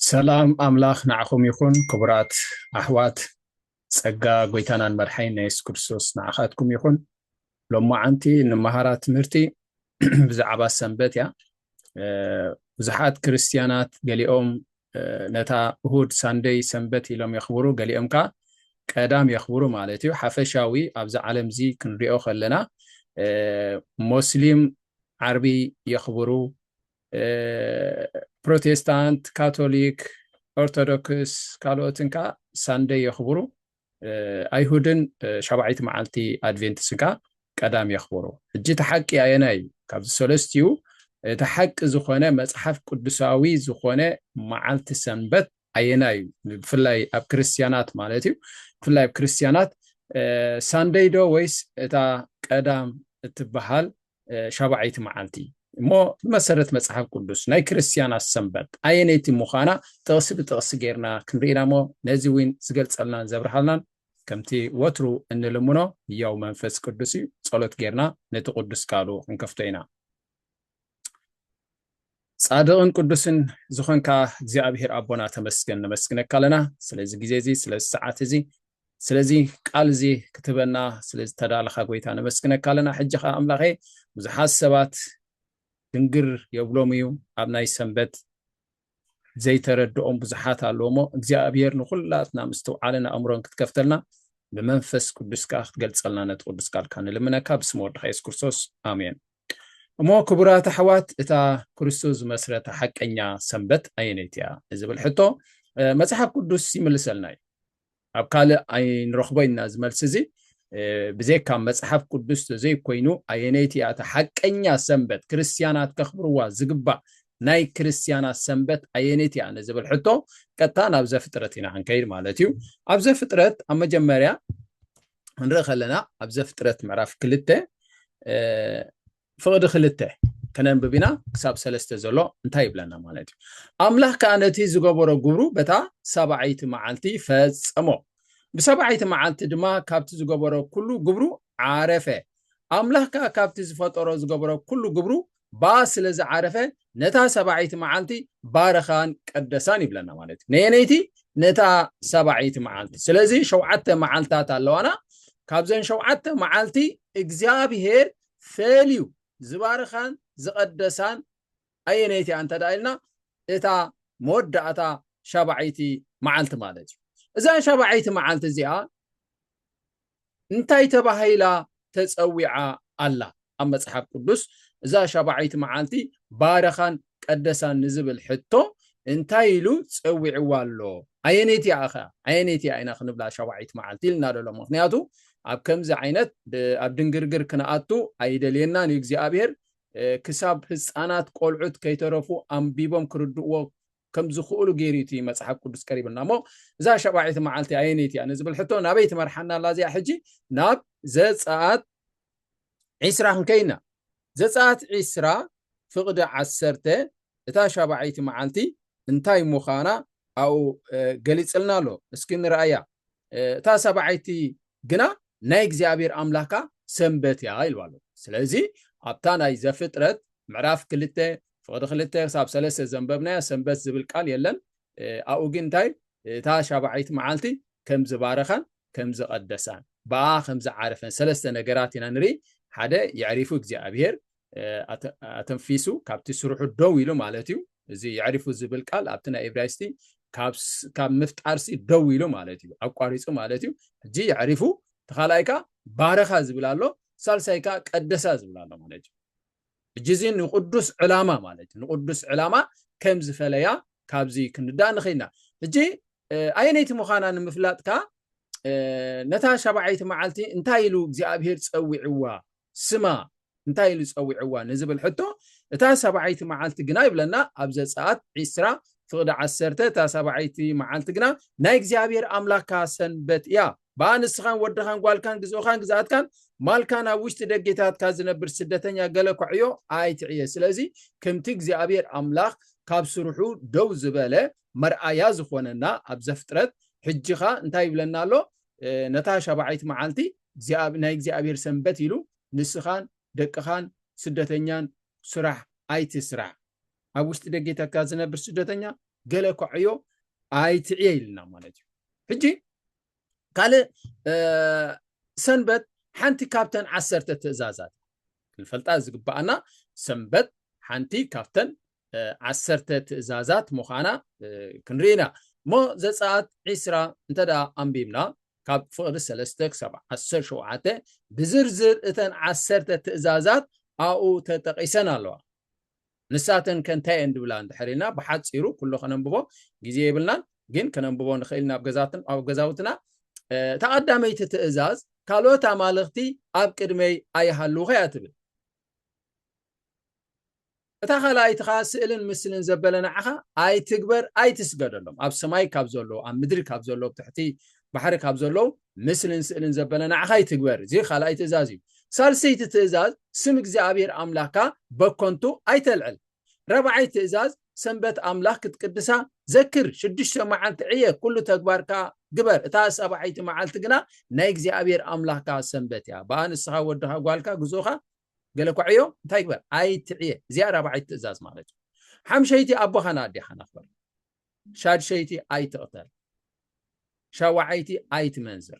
ሰላም ኣምላኽ ንዓኹም ይኹን ክቡራት ኣሕዋት ጸጋ ጎይታናን መድሓይን ናይ የሱስ ክርስቶስ ንዓኻትኩም ይኹን ሎማዓንቲ ንመሃራ ትምህርቲ ብዛዕባ ሰንበት እያ ብዙሓት ክርስትያናት ገሊኦም ነታ እሁድ ሳንደይ ሰንበት ኢሎም የኽብሩ፣ ገሊኦም ከኣ ቀዳም የኽብሩ ማለት እዩ። ሓፈሻዊ ኣብዚ ዓለም እዚ ክንሪኦ ከለና ሞስሊም ዓርቢ የኽብሩ፣ ፕሮቴስታንት፣ ካቶሊክ፣ ኦርቶዶክስ ካልኦትን ከኣ ሳንደይ የኽብሩ። ኣይሁድን ሻብዓይቲ መዓልቲ ኣድቬንት ስጋ ቀዳም የኽብሩ። ሕጂ እቲ ሓቂ ኣየናይ እዩ? ካብዚ ሰለስቲኡ እቲ ሓቂ ዝኾነ መጽሓፍ ቅዱሳዊ ዝኾነ መዓልቲ ሰንበት ኣየናይ እዩ? ብፍላይ ኣብ ክርስትያናት ማለት እዩ። ብፍላይ ኣብ ክርስትያናት ሳንደይ ዶ ወይስ እታ ቀዳም እትበሃል ሻብዓይቲ መዓልቲ እሞ ብመሰረት መጽሓፍ ቅዱስ ናይ ክርስትያናት ሰንበት ኣየነይቲ ምዃና ጥቕሲ ብጥቕሲ ጌርና ክንርኢ ኢና እሞ ነዚ እውን ዝገልጸልናን ዘብርሃልናን ከምቲ ወትሩ እንልምኖ ህያው መንፈስ ቅዱስ እዩ ጸሎት ጌርና ነቲ ቅዱስ ቃሉ ክንከፍቶ ኢና ጻድቕን ቅዱስን ዝኾንካ እግዚኣብሔር ኣቦና ተመስገን ነመስግነካ ኣለና ስለዚ ግዜ እዚ ስለዚ ሰዓት እዚ ስለዚ ቃል እዚ ክትበና ስለዚ ተዳለኻ ጎይታ ነመስግነካ ኣለና ሕጂ ከዓ ኣምላኸ ብዙሓት ሰባት ድንግር የብሎም እዩ ኣብ ናይ ሰንበት ዘይተረድኦም ብዙሓት ኣለዎ እሞ እግዚኣብሔር ንኩላትና ምስትውዓልን ኣእምሮን ክትከፍተልና ብመንፈስ ቅዱስ ከዓ ክትገልፀልና ነቲ ቅዱስ ቃልካ ንልምነካ ብስም ወድካ የሱስ ክርስቶስ ኣሜን እሞ ክቡራት ኣሕዋት እታ ክርስቶስ ዝመስረታ ሓቀኛ ሰንበት ኣየነይቲ እያ ንዝብል ሕቶ መጽሓፍ ቅዱስ ይምልሰልና እዩ ኣብ ካልእ ኣይንረኽቦ ኢና ዝመልሲ እዚ ብዘይካ መጽሓፍ ቅዱስ ተዘይኮይኑ ኣየነይቲ እያ እታ ሓቀኛ ሰንበት ክርስትያናት ከኽብርዋ ዝግባእ ናይ ክርስትያናት ሰንበት ኣየነይቲ እያ ንዝብል ሕቶ ቀጥታ ናብ ዘፍጥረት ኢና ክንከይድ ማለት እዩ ኣብ ዘፍጥረት ኣብ መጀመርያ ክንርኢ ከለና ኣብ ዘፍጥረት ምዕራፍ ክልተ ፍቕዲ ክልተ ከነንብብ ኢና ክሳብ ሰለስተ ዘሎ እንታይ ይብለና ማለት እዩ ኣምላኽ ከዓ ነቲ ዝገበሮ ግብሩ በታ ሰብዓይቲ መዓልቲ ፈጸሞ ብሰብዓይቲ መዓልቲ ድማ ካብቲ ዝገበሮ ኩሉ ግብሩ ዓረፈ ኣምላኽ ከዓ ካብቲ ዝፈጠሮ ዝገበሮ ኩሉ ግብሩ ባስ ስለ ዝዓረፈ ነታ ሰባዒት መዓልቲ ባረኻን ቀደሳን ይብለና ማለት እዩ ነየነይቲ ነታ ሰባዒት መዓልቲ ስለዚ ሸውዓተ መዓልታት ኣለዋና ካብዘን ሸውዓተ መዓልቲ እግዚኣብሄር ፈልዩ ዝባረኻን ዝቐደሳን ኣየነይቲ እያ እንተ ደኣ ኢልና እታ መወዳእታ ሻባዒይቲ መዓልቲ ማለት እዩ እዛ ሻባዒይቲ መዓልቲ እዚኣ እንታይ ተባሂላ ተጸዊዓ ኣላ? ኣብ መጽሓፍ ቅዱስ እዛ ሻብዓይቲ መዓልቲ ባርኻን ቀደሳን ንዝብል ሕቶ እንታይ ኢሉ ጸዊዕዋ ኣሎ? ኣየነይቲ እያ ከ? ኣየነይቲ እያ ኢና ክንብላ ሻብዓይቲ መዓልቲ ኢልና ደሎ? ምክንያቱ ኣብ ከምዚ ዓይነት ኣብ ድንግርግር ክንኣቱ ኣይደልየናን እዩ እግዚኣብሄር። ክሳብ ህጻናት ቆልዑት ከይተረፉ ኣንቢቦም ክርድእዎ ከም ዝኽእሉ ገይሩ እዩ እቲ መጽሓፍ ቅዱስ ቀሪብና እሞ እዛ ሸባዒቲ መዓልቲ ኣየነይቲ እያ ንዝብል ሕቶ ናበይ ትመርሓና ኣላ እዚኣ ሕጂ ናብ ዘጸኣት ዒስራ ክንከይና ዘጸኣት ዒስራ ፍቕዲ ዓሰርተ እታ ሻባዒይቲ መዓልቲ እንታይ ምዃና ኣብኡ ገሊጽልና ኣሎ እስኪ ንረኣያ እታ ሰባዓይቲ ግና ናይ እግዚኣብሔር ኣምላካ ሰንበት እያ ኢልዋ ኣሎ ስለዚ ኣብታ ናይ ዘፍጥረት ምዕራፍ ክልተ ፍቕዲ ክልተ ክሳብ ሰለስተ ዘንበብናዮ ሰንበት ዝብል ቃል የለን ኣብኡ ግን እንታይ እታ ሻብዓይቲ መዓልቲ ከም ዝባረኻን ከም ዝቐደሳን ብኣ ከም ዝዓረፈን ሰለስተ ነገራት ኢና ንርኢ ሓደ የዕሪፉ እግዚኣብሄር ኣተንፊሱ ካብቲ ስርሑ ደው ኢሉ ማለት እዩ እዚ የዕሪፉ ዝብል ቃል ኣብቲ ናይ እብራይስቲ ካብ ምፍጣርሲ ደው ኢሉ ማለት እዩ ኣቋሪፁ ማለት እዩ ሕጂ የዕሪፉ ተኻልኣይካ ባረኻ ዝብል ኣሎ ሳልሳይካ ቀደሳ ዝብል ኣሎ ማለት እዩ ሕጂ እዚ ንቕዱስ ዕላማ ማለት እዩ ንቕዱስ ዕላማ ከም ዝፈለያ ካብዚ ክንዳእ ንኽእል ኢና ሕጂ ኣየነይቲ ምዃና ንምፍላጥ ከኣ ነታ ሻብዓይቲ መዓልቲ እንታይ ኢሉ እግዚኣብሄር ጸዊዕዋ ስማ እንታይ ኢሉ ጸዊዕዋ ንዝብል ሕቶ እታ ሰብዓይቲ መዓልቲ ግና ይብለና ኣብ ዘጸኣት ዒስራ ፍቕዲ ዓሰርተ እታ ሰብዓይቲ መዓልቲ ግና ናይ እግዚኣብሄር ኣምላካ ሰንበት እያ ብኣ ንስኻን ወድኻን ጓልካን ግዝኡኻን ግዝኣትካን ማልካን ኣብ ውሽጢ ደጌታትካ ዝነብር ስደተኛ ገለ ኳዕዮ ኣይትዕየ ስለዚ ከምቲ እግዚኣብሔር ኣምላኽ ካብ ስርሑ ደው ዝበለ መርኣያ ዝኾነና ኣብ ዘፍጥረት ሕጂኻ እንታይ ይብለና ኣሎ ነታ ሻባዓይቲ መዓልቲ ናይ እግዚኣብሔር ሰንበት ኢሉ ንስኻን ደቅኻን ስደተኛን ስራሕ ኣይትስራሕ ኣብ ውሽጢ ደጌ ተካ ዝነብር ስደተኛ ገለ ኳዕዮ ኣይትዕየ ኢልና ማለት እዩ ሕጂ ካልእ ሰንበት ሓንቲ ካብተን ዓሰርተ ትእዛዛት ክንፈልጣ ዝግባኣና ሰንበት ሓንቲ ካብተን ዓሰርተ ትእዛዛት ምዃና ክንርኢ ኢና እሞ ዘፀኣት ዒስራ እንተ ኣንቢብና ካብ ፍቕሪ ሰለስተ ክሳብ ዓሰርተ ሸውዓተ ብዝርዝር እተን ዓሰርተ ትእዛዛት ኣብኡ ተጠቂሰን ኣለዋ ንሳተንከ እንታይ እየን ዝብላ እንድሕር ኢልና ብሓጺሩ ኩሉ ከነንብቦ ግዜ የብልናን ግን ከነንብቦ ንኽእል ኢና ኣብ ገዛውትና እታ ቀዳመይቲ ትእዛዝ ካልኦት ኣማልኽቲ ኣብ ቅድመይ ኣይሃልውኸ እያ ትብል እታ ካልኣይቲ ከዓ ስእልን ምስልን ዘበለ ንዓኻ ኣይትግበር ኣይትስገደሎም ኣብ ሰማይ ካብ ዘለዉ ኣብ ምድሪ ካብ ዘለዉ ትሕቲ ባሕሪ ካብ ዘለዉ ምስልን ስእልን ዘበለ ንዓኻ ይትግበር እዚ ካልኣይ ትእዛዝ እዩ ሳልሰይቲ ትእዛዝ ስም እግዚኣብሔር ኣምላካ በኮንቱ ኣይተልዕል ረብዓይ ትእዛዝ ሰንበት ኣምላኽ ክትቅድሳ ዘክር ሽዱሽተ መዓልቲ ዕየ ኩሉ ተግባርካ ግበር እታ ሰብዓይቲ መዓልቲ ግና ናይ እግዚኣብሔር ኣምላኽካ ሰንበት እያ በኣ ንስኻ ወድኻ ጓልካ ግዝኡኻ ገለ እኳ ዕዮ እንታይ ግበር ኣይትዕየ እዚኣ ራብዓይቲ ትእዛዝ ማለት እዩ ሓምሸይቲ ኣቦኻን ኣዴኻን ኣኽበር ሻድሸይቲ ኣይትቕተል፣ ሻውዓይቲ ኣይትመንዝር።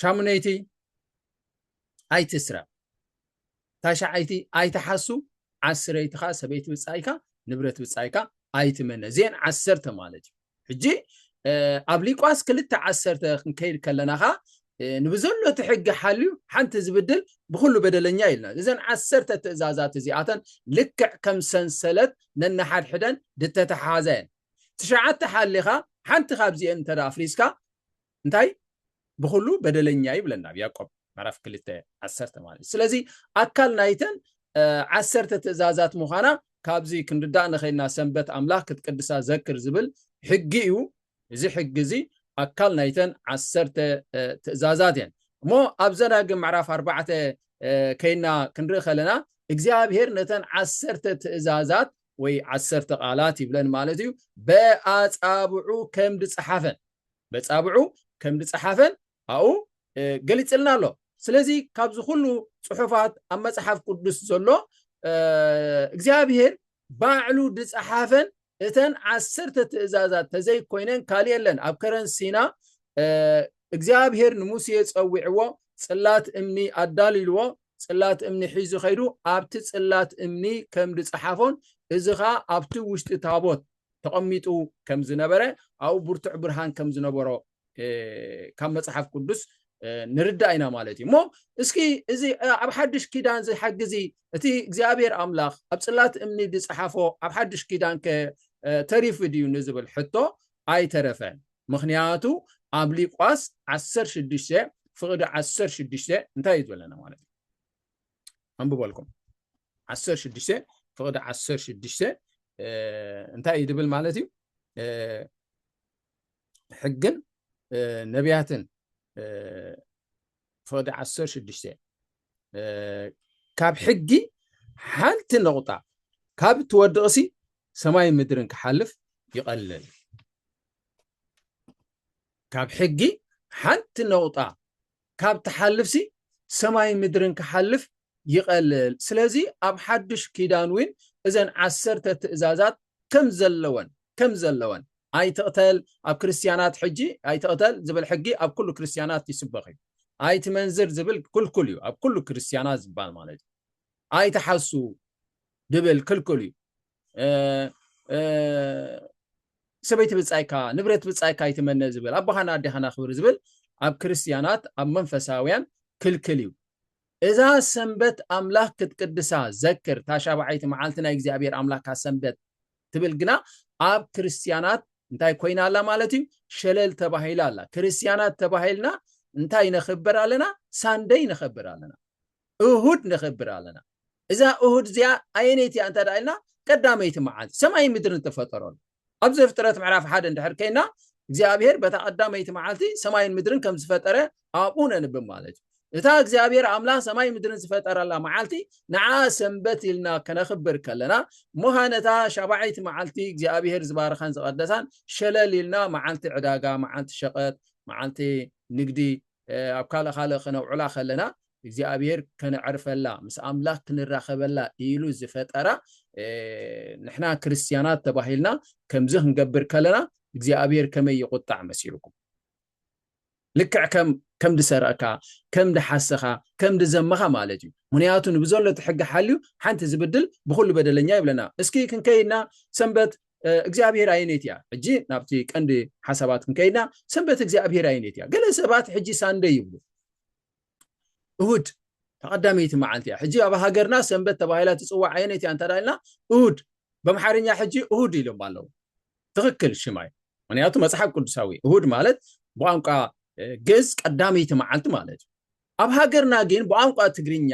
ሻሙነይቲ ኣይትስረቕ፣ ታሽዓይቲ ኣይትሓሱ፣ ዓስረይቲ ከዓ ሰበይቲ ብፃይካ ንብረት ብፃይካ ኣይትመነ። እዚኤን ዓሰርተ ማለት እዩ። ሕጂ ኣብ ሊቋስ ክልተ ዓሰርተ ክንከይድ ከለና ኸዓ ንብዘሎ እቲ ሕጊ ሓልዩ ሓንቲ ዝብድል ብኹሉ በደለኛ ኢልና እዘን ዓሰርተ ትእዛዛት እዚኣተን ልክዕ ከም ሰንሰለት ነንሓድሕደን ድተተሓሓዛ እየን ትሽዓተ ሓሊኻ ሓንቲ ካብዚኤን እንተ ኣፍሪስካ እንታይ ብኹሉ በደለኛ ይብለና ኣብ ያቆብ ምዕራፍ ክልተ ዓሰርተ ማለት እዩ ስለዚ ኣካል ናይተን ዓሰርተ ትእዛዛት ምዃና ካብዚ ክንርዳእ ንኸይልና ሰንበት ኣምላኽ ክትቅድሳ ዘክር ዝብል ሕጊ እዩ እዚ ሕጊ እዚ ኣካል ናይተን ዓሰርተ ትእዛዛት እየን እሞ ኣብ ዘዳግም ምዕራፍ ኣርባዕተ ከይና ክንርኢ ከለና እግዚኣብሄር ነተን ዓሰርተ ትእዛዛት ወይ ዓሰርተ ቃላት ይብለን ማለት እዩ በኣፃብዑ ከም ዝፀሓፈን በጻብዑ ከምድጸሓፈን ኣብኡ ገሊጽልና ኣሎ ስለዚ ካብዚ ኩሉ ጽሑፋት ኣብ መጽሓፍ ቅዱስ ዘሎ እግዚኣብሄር ባዕሉ ድጸሓፈን እተን ዓሰርተ ትእዛዛት ተዘይኮይነን ካልእ የለን ኣብ ከረን ሲና እግዚኣብሄር ንሙሴ ጸዊዕዎ ጽላት እምኒ ኣዳልልዎ ጽላት እምኒ ሒዙ ከይዱ ኣብቲ ጽላት እምኒ ከም ዝጸሓፎን እዚ ከዓ ኣብቲ ውሽጢ ታቦት ተቐሚጡ ከም ዝነበረ ኣብኡ ብርቱዕ ብርሃን ከም ዝነበሮ ካብ መጽሓፍ ቅዱስ ንርዳእ ኢና ማለት እዩ እሞ እስኪ እዚ ኣብ ሓድሽ ኪዳን እዚ ሓጊ እዚ እቲ እግዚኣብሔር ኣምላኽ ኣብ ጽላት እምኒ ዝጸሓፎ ኣብ ሓድሽ ኪዳን ከ ተሪፉ ድዩ ንዝብል ሕቶ ኣይተረፈን ምክንያቱ ኣብ ሊቋስ 16 ፍቕዲ 16 እንታይ እዩ ዝበለና ማለት እዩ ኣንብበልኩም ዓሰር ሽዱሽተ ፍቕዲ ዓሰር ሽዱሽተ እንታይ እዩ ድብል ማለት እዩ ሕግን ነቢያትን ፍቕዲ ዓሰር ሽዱሽተ ካብ ሕጊ ሓንቲ ነቑጣ ካብ እትወድቕሲ ሰማይ ምድርን ክሓልፍ ይቐልል ካብ ሕጊ ሓንቲ ነቑጣ ካብ ትሓልፍሲ ሰማይን ምድርን ክሓልፍ ይቐልል። ስለዚ ኣብ ሓዱሽ ኪዳን እውን እዘን ዓሰርተ ትእዛዛት ከም ዘለወን ከም ዘለወን ኣይትቕተል ኣብ ክርስትያናት ሕጂ ኣይትቕተል ዝብል ሕጊ ኣብ ኩሉ ክርስትያናት ይስበኽ እዩ። ኣይትመንዝር ዝብል ክልኩል እዩ ኣብ ኩሉ ክርስትያናት ዝባል ማለት እዩ። ኣይትሓሱ ድብል ክልኩል እዩ። ሰበይቲ ብፃይካ ንብረት ብፃይካ ይትመነ ዝብል ኣቦኻን ኣዴኻን ኣኽብር ዝብል ኣብ ክርስትያናት ኣብ መንፈሳውያን ክልክል እዩ እዛ ሰንበት ኣምላኽ ክትቅድሳ ዘክር እታ ሻብዓይቲ መዓልቲ ናይ እግዚኣብሔር ኣምላካ ሰንበት ትብል ግና ኣብ ክርስትያናት እንታይ ኮይና ኣላ ማለት እዩ ሸለል ተባሂላ ኣላ ክርስትያናት ተባሂልና እንታይ ነኽብር ኣለና ሳንደይ ነኽብር ኣለና እሁድ ነኽብር ኣለና። እዛ እሁድ እዚኣ ኣየነይቲ እያ እንተ ኢልና ቀዳመይቲ መዓልቲ ሰማይን ምድርን ተፈጠረሉ። ኣብ ዘፍጥረት ምዕራፍ ሓደ እንድሕር ከይና እግዚኣብሔር በታ ቀዳመይቲ መዓልቲ ሰማይን ምድርን ከም ዝፈጠረ ኣብኡ ነንብብ ማለት እዩ። እታ እግዚኣብሔር ኣምላኽ ሰማይ ምድርን ዝፈጠረላ መዓልቲ ንዓ ሰንበት ኢልና ከነኽብር ከለና እሞኻ ነታ ሻባዓይቲ መዓልቲ እግዚኣብሔር ዝባረኻን ዝቐደሳን ሸለል ኢልና መዓልቲ ዕዳጋ፣ መዓልቲ ሸቐጥ፣ መዓልቲ ንግዲ ኣብ ካልእ ካልእ ክነውዕላ ከለና እግዚኣብሔር ከነዕርፈላ ምስ ኣምላኽ ክንራኸበላ ኢሉ ዝፈጠራ ንሕና ክርስትያናት ተባሂልና ከምዚ ክንገብር ከለና እግዚኣብሔር ከመይ ይቁጣዕ መሲልኩም ልክዕ ከም ከም ድሰረቕካ ከም ድሓሰኻ ከም ድዘመኻ ማለት እዩ ምክንያቱ ንብዘሎ እቲ ሕጊ ሓልዩ ሓንቲ ዝብድል ብኩሉ በደለኛ ይብለና እስኪ ክንከይድና ሰንበት እግዚኣብሔር ኣየነይቲ እያ? ሕጂ ናብቲ ቀንዲ ሓሳባት ክንከይድና ሰንበት እግዚኣብሔር ኣየነይቲ እያ? ገለ ሰባት ሕጂ ሳንደይ ይብሉ እሁድ ተቐዳመይቲ መዓልቲ እያ። ሕጂ ኣብ ሃገርና ሰንበት ተባሂላ ትፅዋዕ ኣየነይቲ እያ እንተዳ ኢልና እሁድ በምሓርኛ ሕጂ እሁድ ኢሎም ኣለዉ። ትኽክል ሽማይ ምክንያቱ መፅሓፍ ቅዱሳዊ እሁድ ማለት ብቋንቋ ግእዝ ቀዳመይቲ መዓልቲ ማለት እዩ። ኣብ ሃገርና ግን ብቛንቋ ትግርኛ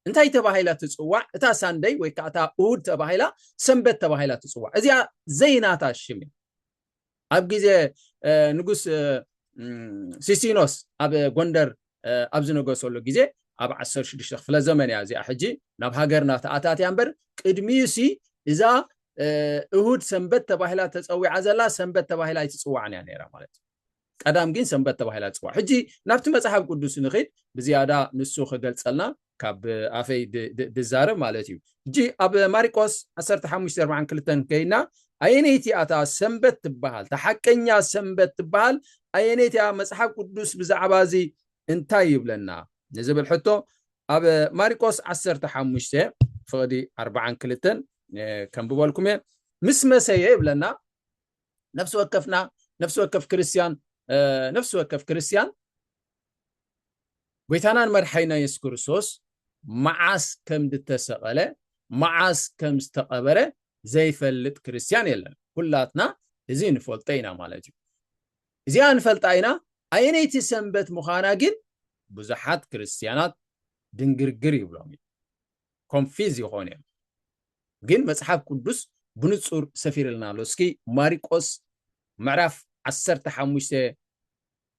እንታይ ተባሂላ ትጽዋዕ? እታ ሳንደይ ወይ ከኣ እታ እሁድ ተባሂላ ሰንበት ተባሂላ ትጽዋዕ። እዚኣ ዘይናታ ሽም እያ። ኣብ ግዜ ንጉስ ሲሲኖስ ኣብ ጎንደር ኣብ ዝነገሰሉ ግዜ ኣብ ዓሰርተ ሽዱሽተ ክፍለ ዘመን እያ እዚኣ ሕጂ ናብ ሃገርና ተኣታትያ እምበር ቅድሚኡሲ እዛ እሁድ ሰንበት ተባሂላ ተጸዊዓ ዘላ ሰንበት ተባሂላ ኣይትጽዋዕን እያ ነይራ ማለት እዩ። ቀዳም ግን ሰንበት ተባሂላ ትጽዋዕ። ሕጂ ናብቲ መጽሓፍ ቅዱስ ንኺድ ብዝያዳ ንሱ ክገልጸልና ካብ ኣፈይ ድዛረብ ማለት እዩ። ሕጂ ኣብ ማሪቆስ ዓሰርተ ሓሙሽተ ኣርብዓን ክልተን ከይና ኣየነይቲ እያ እታ ሰንበት ትበሃል እታ ሓቀኛ ሰንበት ትበሃል ኣየነይቲ እያ መጽሓፍ ቅዱስ ብዛዕባ እዚ እንታይ ይብለና ንዝብል ሕቶ ኣብ ማሪቆስ ዓሰርተ ሓሙሽተ ፍቕዲ ኣርብዓን ክልተን ከምብበልኩም እየ ምስ መሰየ ይብለና ነፍሲ ወከፍና ነፍሲ ወከፍ ክርስትያን ነፍሲ ወከፍ ክርስትያን ጎይታናን መርሓይና የሱስ ክርስቶስ መዓስ ከም ዝተሰቐለ መዓስ ከም ዝተቐበረ ዘይፈልጥ ክርስትያን የለን ኩላትና እዚ ንፈልጦ ኢና ማለት እዩ እዚኣ ንፈልጣ ኢና ኣየነይቲ ሰንበት ምዃና ግን ብዙሓት ክርስትያናት ድንግርግር ይብሎም እዩ ኮንፊዝ ይኮኑ እዮም ግን መጽሓፍ ቁዱስ ብንጹር ሰፊርልና ኣሎ እስኪ ማሪቆስ ምዕራፍ ዓሰርተ ሓሙሽተ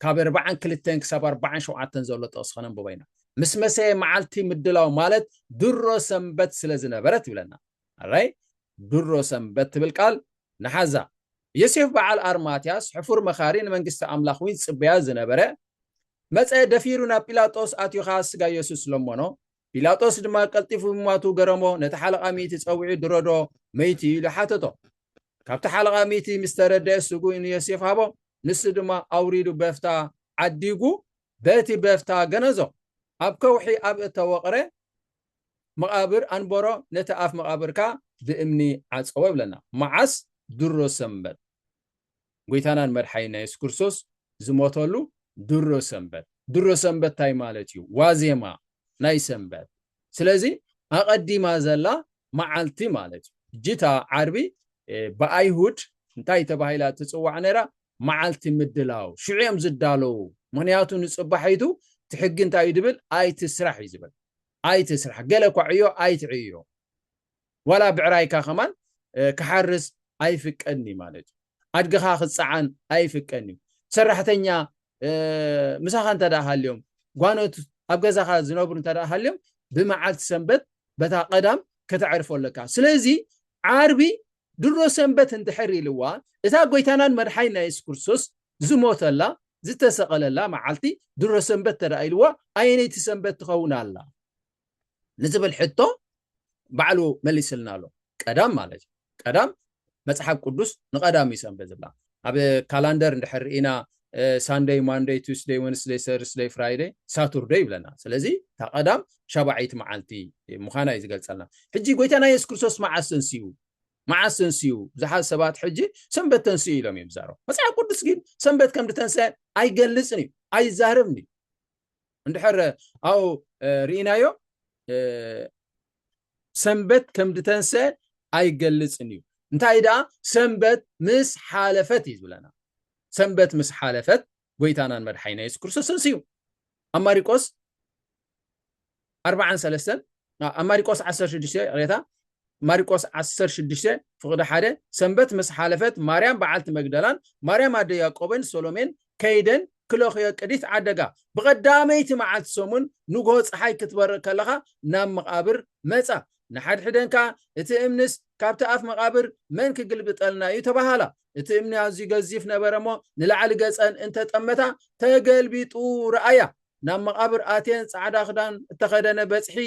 ካብ ኣርባዓን ክልተን ክሳብ ኣርባዓን ሸውዓተን ዘሎ ጥቕሲ ከነንብቦ ኢና ምስ መሰየ መዓልቲ ምድላው ማለት ድሮ ሰንበት ስለ ዝነበረት ይብለና ኣራይ ድሮ ሰንበት ትብል ቃል ንሓዛ ዮሴፍ በዓል ኣርማትያስ ሕፉር መኻሪ ንመንግስቲ ኣምላኽ እውን ዝጽበያ ዝነበረ መጸ ደፊሩ ናብ ጲላጦስ ኣትዮኻ ስጋ የሱስ ለመኖ ጲላጦስ ድማ ቀልጢፉ ምሟቱ ገረሞ፣ ነቲ ሓለቓ ሚእቲ ጸዊዑ ድሮዶ መይቱ ኢሉ ሓተቶ። ካብቲ ሓለቓ ሚእቲ ምስ ተረደኤ ስግኡ ንዮሴፍ ሃቦ፣ ንሱ ድማ ኣውሪዱ በፍታ ዓዲጉ በቲ በፍታ ገነዞ፣ ኣብ ከውሒ ኣብ እተወቕረ መቓብር ኣንበሮ፣ ነቲ ኣፍ መቓብር ከኣ ብእምኒ ዓጸዎ ይብለና። መዓስ? ድሮ ሰንበት። ጎይታናን መድሓኒና የሱስ ክርስቶስ ዝሞተሉ ድሮ ሰንበት ድሮ ሰንበት እንታይ ማለት እዩ ዋዜማ ናይ ሰንበት ስለዚ ኣቐዲማ ዘላ መዓልቲ ማለት እዩ ጅታ ዓርቢ ብኣይሁድ እንታይ ተባሂላ ትፅዋዕ ነይራ መዓልቲ ምድላው ሽዑ እዮም ዝዳለዉ ምክንያቱ ንፅባሒቱ እቲ ሕጊ እንታይ እዩ ዝብል ኣይትስራሕ እዩ ዝብል ኣይትስራሕ ገለ እኳ ዕዮ ኣይትዕዮ ዋላ ብዕራይካ ከማን ክሓርስ ኣይፍቀድን እዩ ማለት እዩ ኣድግኻ ክፀዓን ኣይፍቀድን እዩ ሰራሕተኛ ምሳኻ እንተ ሃልዮም ጓኖት ኣብ ገዛኻ ዝነብሩ እንተ ሃልዮም ብመዓልቲ ሰንበት በታ ቀዳም ከተዕርፎ ኣለካ ስለዚ ዓርቢ ድሮ ሰንበት እንድሕር ኢልዋ እዛ ጎይታናን መድሓይና የሱስ ክርስቶስ ዝሞተላ ዝተሰቐለላ መዓልቲ ድሮ ሰንበት ተደኣ ኢልዋ ኣየነይቲ ሰንበት ትኸውን ኣላ ንዝብል ሕቶ ባዕሉ መሊስልና ኣሎ ቀዳም ማለት እዩ ቀዳም መፅሓፍ ቅዱስ ንቀዳም እዩ ሰንበት ዝብላ ኣብ ካላንደር እንድሕር ርኢና ሳንደይ ማንደይ ቱስደይ ወንስደይ ሰርደይ ፍራይደይ ሳቱርደይ ይብለና ስለዚ እታ ቀዳም ሻባዓይቲ መዓልቲ ምዃና እዩ ዝገልፀልና ሕጂ ጎይታና የሱስ ክርስቶስ መዓስ ተንስኡ መዓስ ተንስኡ ብዙሓት ሰባት ሕጂ ሰንበት ተንስኡ ኢሎም እዮም ዝዛረቡ መፅሓፍ ቅዱስ ግን ሰንበት ከም ዝተንስአ ኣይገልፅን እዩ ኣይዛረብን እዩ እንድሕር ኣብኡ ርኢናዮ ሰንበት ከም ድተንሰ ኣይገልፅን እዩ እንታይ ደኣ ሰንበት ምስ ሓለፈት እዩ ዝብለና ሰንበት ምስ ሓለፈት ጎይታናን መድሓይና የሱስ ክርስቶስ ተንስዩ ኣብ ማሪቆስ ኣርብዓን ሰለስተን ኣብ ማሪቆስ ዓሰርተ ሽዱሽተ ይቕሬታ ማሪቆስ ዓሰርተ ሽዱሽተ ፍቕዲ ሓደ ሰንበት ምስ ሓለፈት ማርያም በዓልቲ መግደላን ማርያም ኣደ ያቆበን ሶሎሜን ከይደን ክለኽዮ ቅዲት ዓደጋ ብቐዳመይቲ መዓልቲ ሰሙን ንግሆ ፀሓይ ክትበርቕ ከለኻ ናብ መቓብር መፃ ንሓድሕደን ከዓ እቲ እምንስ ካብቲ ኣፍ መቓብር መን ክግልብጠልና እዩ ተባሃላ እቲ እምኒ ኣዝዩ ገዚፍ ነበረ እሞ ንላዕሊ ገፀን እንተጠመታ ተገልቢጡ ረኣያ ናብ መቓብር ኣትየን ጻዕዳ ክዳን እተኸደነ በጽሒ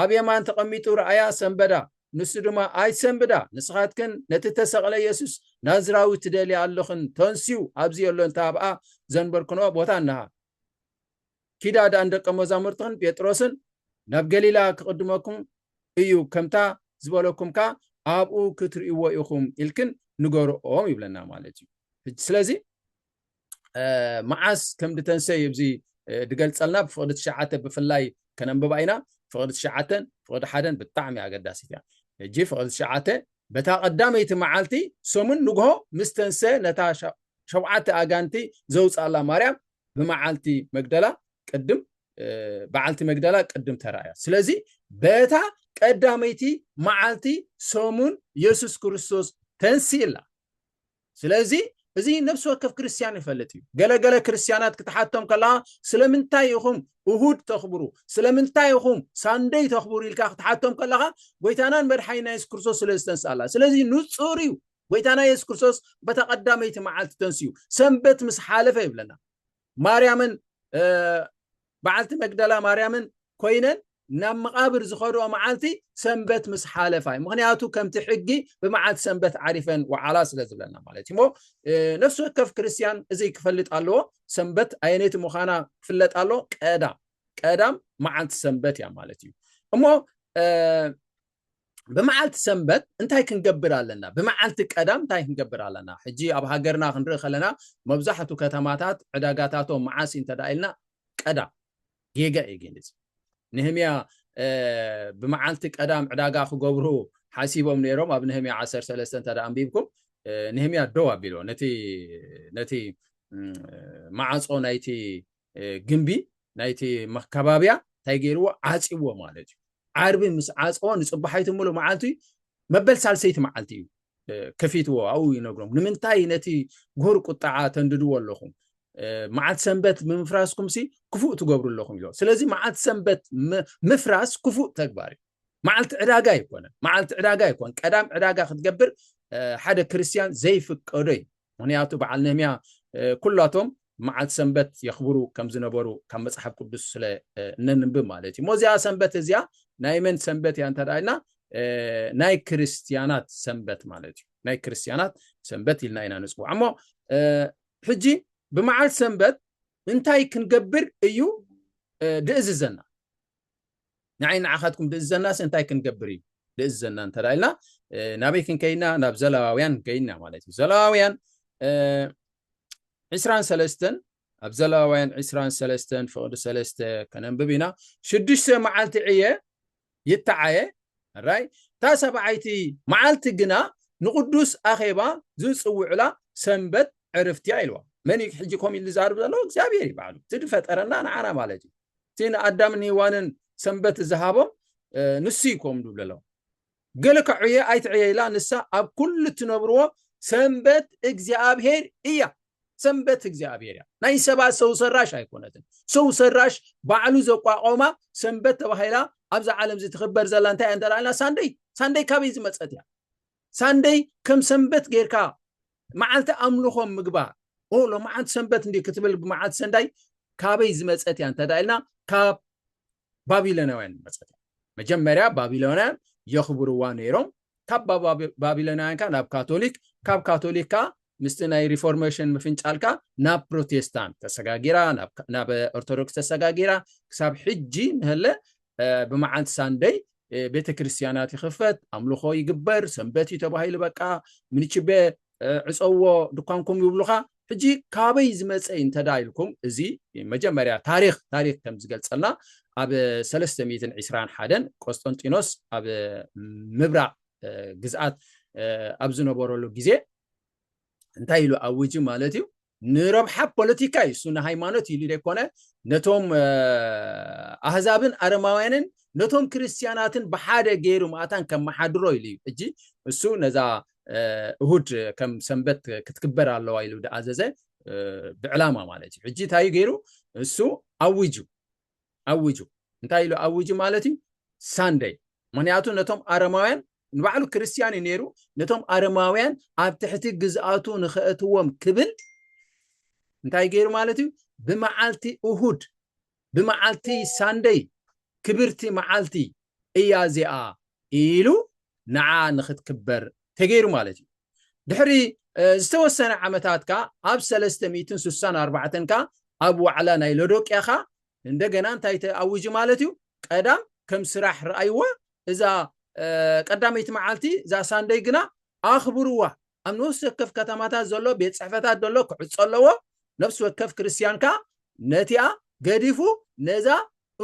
ኣብ የማን ተቐሚጡ ረኣያ ሰንበዳ። ንሱ ድማ ኣይትሰንብዳ ንስኻትክን ነቲ እተሰቕለ የሱስ ናዝራዊ ትደልያ ኣሎኽን ተንስኡ ኣብዚ ኣሎ እንተ ኣብኣ ዘንበርክንኦ ቦታ እንሃ ኪዳ ደኣ ንደቀ መዛሙርትኽን ጴጥሮስን ናብ ገሊላ ክቕድመኩም እዩ ከምታ ዝበለኩም ከኣ ኣብኡ ክትርእይዎ ኢኹም ኢልክን ንገርኦም ይብለና ማለት እዩ ስለዚ መዓስ ከም ድተንሰ እዩ እዚ ድገልፀልና ብፍቅዲ ትሽዓተ ብፍላይ ከነንብባ ኢና ፍቅዲ ትሽዓተን ፍቅዲ ሓደን ብጣዕሚ ኣገዳሲት እያ እጂ ፍቅዲ ትሽዓተ በታ ቀዳመይቲ መዓልቲ ሰሙን ንግሆ ምስ ተንሰ ነታ ሸውዓተ ኣጋንቲ ዘውፅኣላ ማርያም ብመዓልቲ መግደላ ቅድም በዓልቲ መግደላ ቅድም ተራእያ ስለዚ በታ ቀዳመይቲ መዓልቲ ሰሙን የሱስ ክርስቶስ ተንሲእላ ስለዚ እዚ ነፍሲ ወከፍ ክርስትያን ይፈልጥ እዩ። ገለ ገለ ክርስትያናት ክትሓቶም ከለኻ ስለምንታይ ኢኹም እሁድ ተኽብሩ፣ ስለምንታይ ኢኹም ሳንደይ ተኽብሩ ኢልካ ክትሓቶም ከለኻ ጎይታናን መድሓኒና የሱስ ክርስቶስ ስለ ዝተንስኣላ። ስለዚ ንጹር እዩ ጎይታና የሱስ ክርስቶስ በታ ቀዳመይቲ መዓልቲ ተንስኡ፣ ሰንበት ምስ ሓለፈ ይብለና። ማርያምን በዓልቲ መግደላ ማርያምን ኮይነን ናብ መቓብር ዝኸድኦ መዓልቲ ሰንበት ምስ ሓለፋ እዩ ምክንያቱ ከምቲ ሕጊ ብመዓልቲ ሰንበት ዓሪፈን ወዓላ ስለ ዝብለና ማለት እዩ እሞ ነፍሲ ወከፍ ክርስትያን እዚ ክፈልጥ ኣለዎ ሰንበት ኣየነይቲ ምዃና ክፍለጥ ኣሎ ቀዳም ቀዳም መዓልቲ ሰንበት እያ ማለት እዩ እሞ ብመዓልቲ ሰንበት እንታይ ክንገብር ኣለና? ብመዓልቲ ቀዳም እንታይ ክንገብር ኣለና? ሕጂ ኣብ ሃገርና ክንርኢ ከለና መብዛሕቱ ከተማታት ዕዳጋታቶም መዓስ እዩ እንተደኣ ኢልና ቀዳም ጌጋ እዩ ግን እዚ ነህምያ ብመዓልቲ ቀዳም ዕዳጋ ክገብሩ ሓሲቦም ነይሮም ኣብ ነህምያ 13 እንተደኣ ኣንቢብኩም ነህምያ ደው ኣቢልዎ ነቲ ነቲ መዓፆ ናይቲ ግምቢ ናይቲ መካባብያ እንታይ ገይርዎ ዓፅዎ ማለት እዩ ዓርቢ ምስ ዓፅዎ ንፅባሓይቲ ምሉ መዓልቲ መበል ሳልሰይቲ መዓልቲ እዩ ከፊትዎ ኣብኡ ይነግሮም ንምንታይ ነቲ ጉሁር ቁጣዓ ተንድድዎ ኣለኹም መዓልቲ ሰንበት ብምፍራስኩም ሲ ክፉእ ትገብሩ ኣለኹም ኢሎ ስለዚ መዓልቲ ሰንበት ምፍራስ ክፉእ ተግባር እዩ መዓልቲ ዕዳጋ ኣይኮነን መዓልቲ ዕዳጋ ኣይኮን ቀዳም ዕዳጋ ክትገብር ሓደ ክርስትያን ዘይፍቀዶ እዩ ምክንያቱ በዓል ነህምያ ኩላቶም መዓልቲ ሰንበት የኽብሩ ከም ዝነበሩ ካብ መፅሓፍ ቅዱስ ስለ እነንብብ ማለት እዩ ሞዚኣ ሰንበት እዚኣ ናይ መን ሰንበት እያ እንተዳ ኢልና ናይ ክርስትያናት ሰንበት ማለት እዩ ናይ ክርስትያናት ሰንበት ኢልና ኢና ንፅውዓ እሞ ሕጂ ብመዓልቲ ሰንበት እንታይ ክንገብር እዩ ድእዝዘና ንዓይ ንዓኻትኩም ድእዘናስ እንታይ ክንገብር እዩ ድእዘና እንተ ኢልና ናበይ ክንከይድና ናብ ዘለዋውያን ከይድና ማለት እዩ ዘለዋውያን ዕስራን ሰለስተን ኣብ ዘለዋውያን ዕስራን ሰለስተን ፍቕዲ ሰለስተ ከነንብብ ኢና ሽዱሽተ መዓልቲ ዕየ ይተዓየ ራይ እታ ሰብዓይቲ መዓልቲ ግና ንቅዱስ ኣኼባ ዝፅውዕላ ሰንበት ዕርፍትያ ኢልዋ መን እዩ ሕጂ ኮም ኢሉ ዝዛርብ ዘሎ እግዚኣብሔር ይበዓሉ እቲ ድፈጠረና ንዓና ማለት እዩ እቲ ንኣዳምን ሄዋንን ሰንበት ዝሃቦም ንሱ እዩ ከምኡ ዝብለሎም ገለ ከዕየ ኣይትዕየ ኢላ ንሳ ኣብ ኩሉ እትነብርዎ ሰንበት እግዚኣብሄር እያ ሰንበት እግዚኣብሄር እያ ናይ ሰባት ሰው ሰራሽ ኣይኮነትን ሰው ሰራሽ ባዕሉ ዘቋቆማ ሰንበት ተባሂላ ኣብዛ ዓለም እዚ ትኽበር ዘላ እንታይ እንተላልና ሳንደይ ሳንደይ ካበይ ዝመፀት እያ ሳንደይ ከም ሰንበት ጌርካ መዓልቲ ኣምልኾ ምግባር ኦ ሎመዓንቲ ሰንበት እንዲ ክትብል ብመዓልቲ ሰንዳይ ካበይ ዝመፀት እያ እንተ ኢልና ካብ ባቢሎናውያን ዝመፀት እያ መጀመርያ ባቢሎናውያን የኽብርዋ ነይሮም ካብ ባቢሎናውያን ካ ናብ ካቶሊክ ካብ ካቶሊክ ካ ምስቲ ናይ ሪፎርሜሽን ምፍንጫል ከኣ ናብ ፕሮቴስታንት ተሰጋጊራ፣ ናብ ኦርቶዶክስ ተሰጋጊራ፣ ክሳብ ሕጂ ንሀለ ብመዓልቲ ሳንደይ ቤተ ክርስቲያናት ይኽፈት፣ ኣምልኾ ይግበር፣ ሰንበት እዩ ተባሂሉ በቃ ምንችቤ ዕፀዎ ድኳንኩም ይብሉኻ። ሕጂ ካበይ ዝመፀ እዩ እንተ ኢልኩም እዚ መጀመርያ ታሪኽ ታሪኽ ከም ዝገልፀልና ኣብ ሰለስተ ሚእትን ዒስራን ሓደን ቆስጠንጢኖስ ኣብ ምብራቕ ግዝኣት ኣብ ዝነበረሉ ግዜ እንታይ ኢሉ ኣውጁ ማለት እዩ ንረብሓ ፖለቲካ እዩ እሱ ንሃይማኖት ኢሉ ዘይኮነ ነቶም ኣህዛብን ኣረማውያንን ነቶም ክርስትያናትን ብሓደ ገይሩ ማእታን ከመሓድሮ ኢሉ እዩ እጂ እሱ ነዛ እሁድ ከም ሰንበት ክትክበር ኣለዋ ኢሉ ድኣዘዘ ብዕላማ ማለት እዩ ሕጂ እንታይ ገይሩ እሱ ኣውጁ ኣዊጁ። እንታይ ኢሉ ኣዊጁ ማለት እዩ? ሳንደይ። ምኽንያቱ ነቶም ኣረማውያን ንባዕሉ ክርስትያን እዩ ነይሩ፣ ነቶም ኣረማውያን ኣብ ትሕቲ ግዝኣቱ ንኸእትዎም ክብል እንታይ ገይሩ ማለት እዩ? ብመዓልቲ እሁድ ብመዓልቲ ሳንደይ ክብርቲ መዓልቲ እያ እዚኣ ኢሉ ንዓ ንክትክበር ተገይሩ ማለት እዩ። ድሕሪ ዝተወሰነ ዓመታት ከኣ ኣብ ሰለስተ ሚእትን ስሳን ኣርባዕተን ከኣ ኣብ ዋዕላ ናይ ሎዶቅያ ከኣ እንደገና እንታይ ተኣዊጁ ማለት እዩ ቀዳም ከም ስራሕ ረኣይዋ እዛ ቀዳመይቲ መዓልቲ እዛ ሳንደይ ግና ኣኽብርዋ ኣብ ንኡስ ወከፍ ከተማታት ዘሎ ቤት ጽሕፈታት ዘሎ ክዕጾ ኣለዎ ነፍሲ ወከፍ ክርስትያን ከኣ ነቲኣ ገዲፉ ነዛ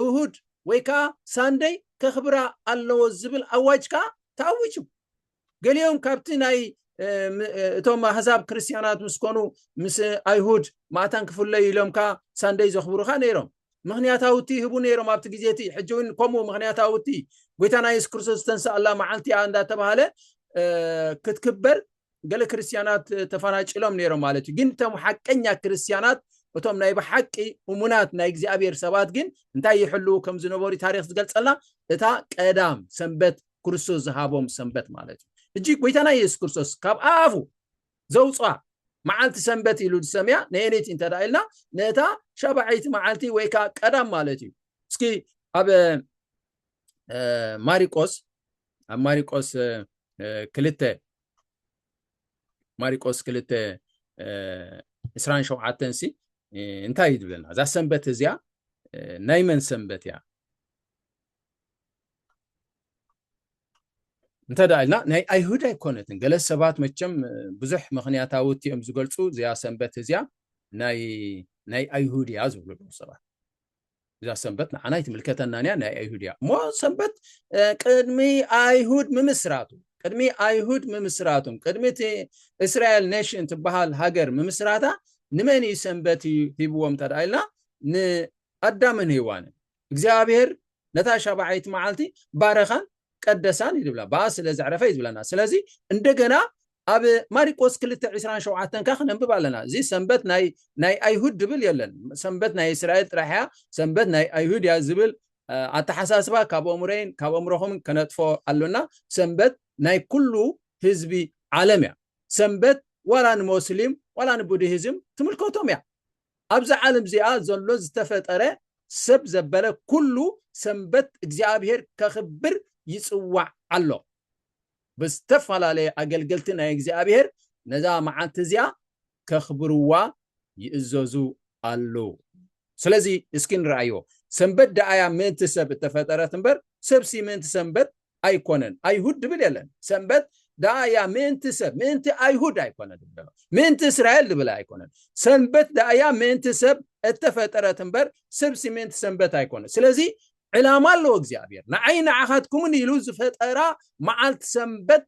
እሁድ ወይ ከኣ ሳንደይ ከኽብራ ኣለዎ ዝብል ኣዋጅ ከኣ ተኣዊጁ ገሊኦም ካብቲ ናይ እቶም ኣህዛብ ክርስትያናት ምስ ኮኑ ምስ ኣይሁድ ማእታን ክፍለዩ ኢሎም ከኣ ሳንደይ ዘኽብሩ ከኣ ነይሮም ምክንያታውቲ ይህቡ ነይሮም ኣብቲ ግዜ እቲ ሕጂ እውን ከምኡ ምክንያታውቲ ጎይታና የሱስ ክርስቶስ ዝተንስኣላ መዓልቲ እያ እንዳተባሃለ ክትክበር ገለ ክርስትያናት ተፈናጭሎም ነይሮም ማለት እዩ ግን እቶም ሓቀኛ ክርስትያናት እቶም ናይ ብሓቂ እሙናት ናይ እግዚኣብሔር ሰባት ግን እንታይ ይሕልው ከም ዝነበሩ ታሪክ ዝገልፀልና እታ ቀዳም ሰንበት ክርስቶስ ዝሃቦም ሰንበት ማለት እዩ እጂ ጎይታና የሱስ ክርስቶስ ካብ ኣፉ ዘውጽኣ መዓልቲ ሰንበት ኢሉ ዝሰምያ ነየነይቲ እንተ ኢልና ነታ ሻባዐይቲ መዓልቲ ወይ ከዓ ቀዳም ማለት እዩ እስኪ ኣብ ማሪቆስ ኣብ ማሪቆስ ክልተ ማሪቆስ ክልተ ዕስራን ሸውዓተን ሲ እንታይ እዩ ዝብለና እዛ ሰንበት እዚኣ ናይ መን ሰንበት እያ እንተ ደኣ ኢልና ናይ ኣይሁድ ኣይኮነትን ገለ ሰባት መቸም ብዙሕ ምክንያታዊ እዮም ዝገልጹ እዚያ ሰንበት እዚያ ናይ ናይ ኣይሁድ እያ ዝብሉ ኣለዉ ሰባት እዛ ሰንበት ንዓና ይትምልከተናን እያ ናይ ኣይሁድ እያ እሞ ሰንበት ቅድሚ ኣይሁድ ምምስራቱ ቅድሚ ኣይሁድ ምምስራቱም ቅድሚ እቲ እስራኤል ኔሽን ትበሃል ሃገር ምምስራታ ንመን እዩ ሰንበት እዩ ሂብዎም እንተ ደኣ ኢልና ንኣዳምን ሂዋንን እግዚኣብሔር ነታ ሻባዐይቲ መዓልቲ ባረኻን ቀደሳን እዩ ዝብላ ብኣ ስለ ዘዕረፈ እዩ ዝብለና ስለዚ እንደገና ኣብ ማሪቆስ ክልተ ዕስራን ሸውዓተን ካ ክነንብብ ኣለና እዚ ሰንበት ናይ ናይ ኣይሁድ ድብል የለን ሰንበት ናይ እስራኤል ጥራሕ እያ ሰንበት ናይ ኣይሁድ እያ ዝብል ኣተሓሳስባ ካብ ኣእምሮይን ካብ ኣእምሮኹምን ከነጥፎ ኣሎና ሰንበት ናይ ኩሉ ህዝቢ ዓለም እያ ሰንበት ዋላ ንሞስሊም ዋላ ንቡድሂዝም ትምልከቶም እያ ኣብዛ ዓለም እዚኣ ዘሎ ዝተፈጠረ ሰብ ዘበለ ኩሉ ሰንበት እግዚኣብሔር ከኽብር ይጽዋዕ ኣሎ። ብዝተፈላለየ ኣገልገልቲ ናይ እግዚኣብሔር ነዛ መዓልቲ እዚኣ ከኽብርዋ ይእዘዙ ኣሉ። ስለዚ እስኪ ንርኣዮ ሰንበት ደኣያ ምእንቲ ሰብ እተፈጠረት እምበር ሰብሲ ምእንቲ ሰንበት ኣይኮነን ኣይሁድ ድብል የለን ሰንበት ደኣ እያ ምእንቲ ሰብ ምእንቲ ኣይሁድ ኣይኮነ ድብል ዘሎ ምእንቲ እስራኤል ድብል ኣይኮነን ሰንበት ደኣ እያ ምእንቲ ሰብ እተፈጠረት እምበር ሰብሲ ምእንቲ ሰንበት ኣይኮነ ስለዚ ዕላማ ኣለዎ እግዚኣብሔር ንዓይ ንዓኻትኩምን ኢሉ ዝፈጠራ መዓልቲ ሰንበት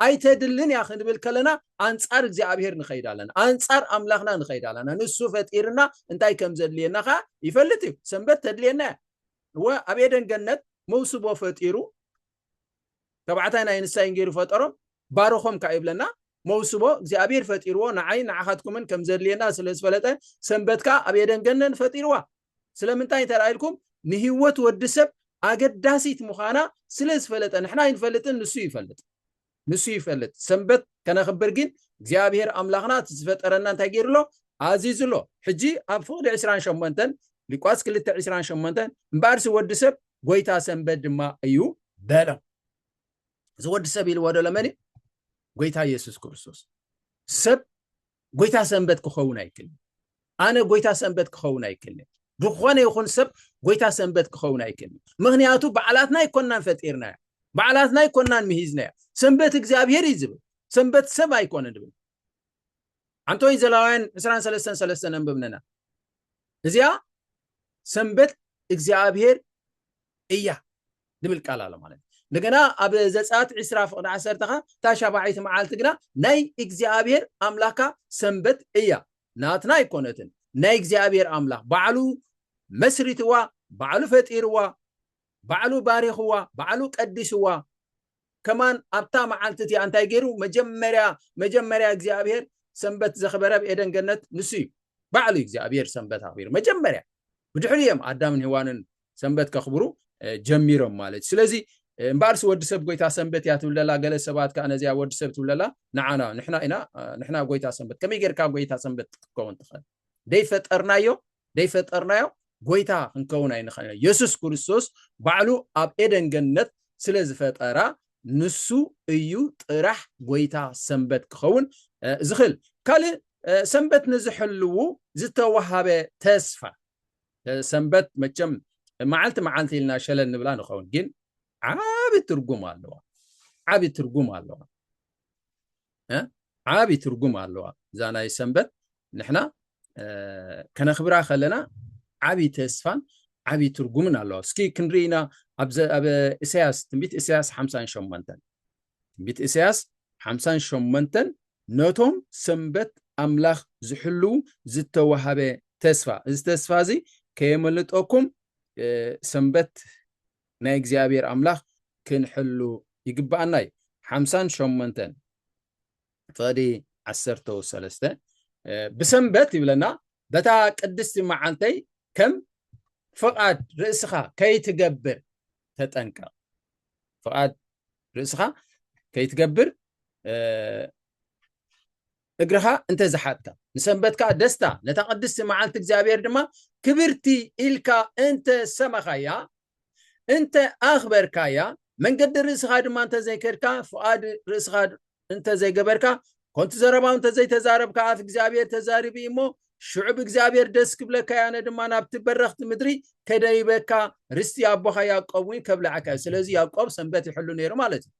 ኣይተድልን እያ ክንብል ከለና ኣንጻር እግዚኣብሔር ንኸይድ ኣለና ኣንጻር ኣምላኽና ንኸይድ ኣለና ንሱ ፈጢርና እንታይ ከም ዘድልየና ከዓ ይፈልጥ እዩ ሰንበት ተድልየና እያ እወ ኣብ ኤደን ገነት መውስቦ ፈጢሩ ተባዕታይ ናይ ንሳይን ገይሩ ፈጠሮም ባረኾም ከኣ ይብለና መውስቦ እግዚኣብሔር ፈጢርዎ ንዓይን ንዓኻትኩምን ከም ዘድልየና ስለ ዝፈለጠ ሰንበት ከኣ ኣብ ኤደን ገነት ፈጢርዋ ስለምንታይ እንተላኢልኩም ንህይወት ወዲ ሰብ ኣገዳሲት ምዃና ስለ ዝፈለጠ ንሕና ኣይንፈልጥን ንሱ ይፈልጥ ንሱ ይፈልጥ ሰንበት ከነኽብር ጊን እግዚኣብሔር ኣምላኽና እቲ ዝፈጠረና እንታይ ገይሩ ኣሎ ኣዚዙ ኣሎ ሕጂ ኣብ ፍቕዲ ዕስራን ሸሞንተን ሊቋስ ክልተ ዕስራን ሸሞንተን እምበኣርሲ ወዲ ሰብ ጎይታ ሰንበት ድማ እዩ በሎም እዚ ወዲ ሰብ ኢልዎ ዶ ለመን እዩ ጎይታ ኢየሱስ ክርስቶስ ሰብ ጎይታ ሰንበት ክኸውን ኣይክልን። ኣነ ጎይታ ሰንበት ክኸውን ኣይክልን። ዝኾነ ይኹን ሰብ ጎይታ ሰንበት ክኸውን ኣይክልን። ምክንያቱ በዓላትና ኣይኮናን ፈጢርናያ፣ በዓላትና ኣይኮናን ምሂዝናያ። ሰንበት እግዚኣብሄር እዩ ዝብል፣ ሰንበት ሰብ ኣይኮነን ዝብል። ኣንቶይ ዘላውያን 23 ሰለስተ ነንብብነና እዚኣ ሰንበት እግዚኣብሄር እያ። ዝብል ቃል ኣሎ ማለት እዩ። እንደገና ኣብ ዘጸኣት ዕስራ ፍቕዲ ዓሰርተ ከኣ እታ ሻብዓይቲ መዓልቲ ግና ናይ እግዚኣብሄር ኣምላኽካ ሰንበት እያ፣ ናትና ኣይኰነትን፣ ናይ እግዚኣብሄር ኣምላኽ ባዕሉ መስሪትዋ፣ ባዕሉ ፈጢርዋ፣ ባዕሉ ባሪኽዋ፣ ባዕሉ ቀዲስዋ፣ ከማን ኣብታ መዓልቲ እቲኣ እንታይ ገይሩ መጀመርያ መጀመርያ እግዚኣብሄር ሰንበት ዘኽበረ ኣብ ኤደን ገነት ንሱ እዩ ባዕሉ እግዚኣብሄር ሰንበት ኣኽቢሩ መጀመርያ ብድሕሪ እዮም ኣዳምን ህዋንን ሰንበት ከኽብሩ ጀሚሮም ማለት ስለዚ እምበኣርሲ ወዲ ሰብ ጎይታ ሰንበት እያ ትብል ዘላ ገለ ሰባት ከዓ ነዚያ ወዲ ሰብ ትብል ዘላ ንዓና ንሕና ኢና ንሕና ጎይታ ሰንበት ከመይ ጌርካ ጎይታ ሰንበት ክትከውን ትኽእል ዘይፈጠርናዮ ዘይፈጠርናዮ ጎይታ ክንከውን ኣይንኸእልን። የሱስ ክርስቶስ ባዕሉ ኣብ ኤደን ገነት ስለ ዝፈጠራ ንሱ እዩ ጥራሕ ጎይታ ሰንበት ክኸውን ዝኽእል። ካልእ ሰንበት ንዝሕልዉ ዝተዋሃበ ተስፋ ሰንበት መቸም መዓልቲ መዓልቲ ኢልና ሸለ ንብላ ንኸውን ግን ዓቢ ትርጉም ኣለዋ ዓቢ ትርጉም ኣለዋ ዓቢ ትርጉም ኣለዋ እዛ ናይ ሰንበት ንሕና ከነኽብራ ከለና ዓቢ ተስፋን ዓቢ ትርጉምን ኣለዋ እስኪ ክንርኢ ኢና ኣብ እሰያስ ትንቢት እሰያስ ሓምሳን ሸሞንተን ትንቢት እሰያስ ሓምሳን ሸሞንተን ነቶም ሰንበት ኣምላኽ ዝሕልው ዝተዋሃበ ተስፋ እዚ ተስፋ እዚ ከየመልጠኩም ሰንበት ናይ እግዚኣብሔር ኣምላክ ክንሕሉ ይግበኣና እዩ ሓምሳን ሸሞንተን ፍቅዲ ዓሰርተው ሰለስተ ብሰንበት ይብለና በታ ቅድስቲ መዓልተይ ከም ፍቃድ ርእስኻ ከይትገብር ተጠንቀቅ ፍቃድ ርእስኻ ከይትገብር እግርኻ እንተ ዝሓጥካ፣ ንሰንበት ከኣ ደስታ፣ ነታ ቅድስቲ መዓልቲ እግዚኣብሔር ድማ ክብርቲ ኢልካ እንተ ሰመኻያ፣ እንተ ኣኽበርካያ፣ መንገዲ ርእስኻ ድማ እንተ ዘይከድካ፣ ፍቓድ ርእስኻ እንተ ዘይገበርካ፣ ኮንቱ ዘረባው እንተ ዘይተዛረብካ፣ ኣፍ እግዚኣብሔር ተዛሪቡ እዩ እሞ፣ ሽዑ ብእግዚኣብሔር ደስ ክብለካ እየ፣ ኣነ ድማ ናብቲ በረኽቲ ምድሪ ከደይበካ፣ ርስቲ ኣቦኻ ያዕቆብ እውን ከብልዓካ እዩ። ስለዚ ያዕቆብ ሰንበት ይሕሉ ነይሩ ማለት እዩ።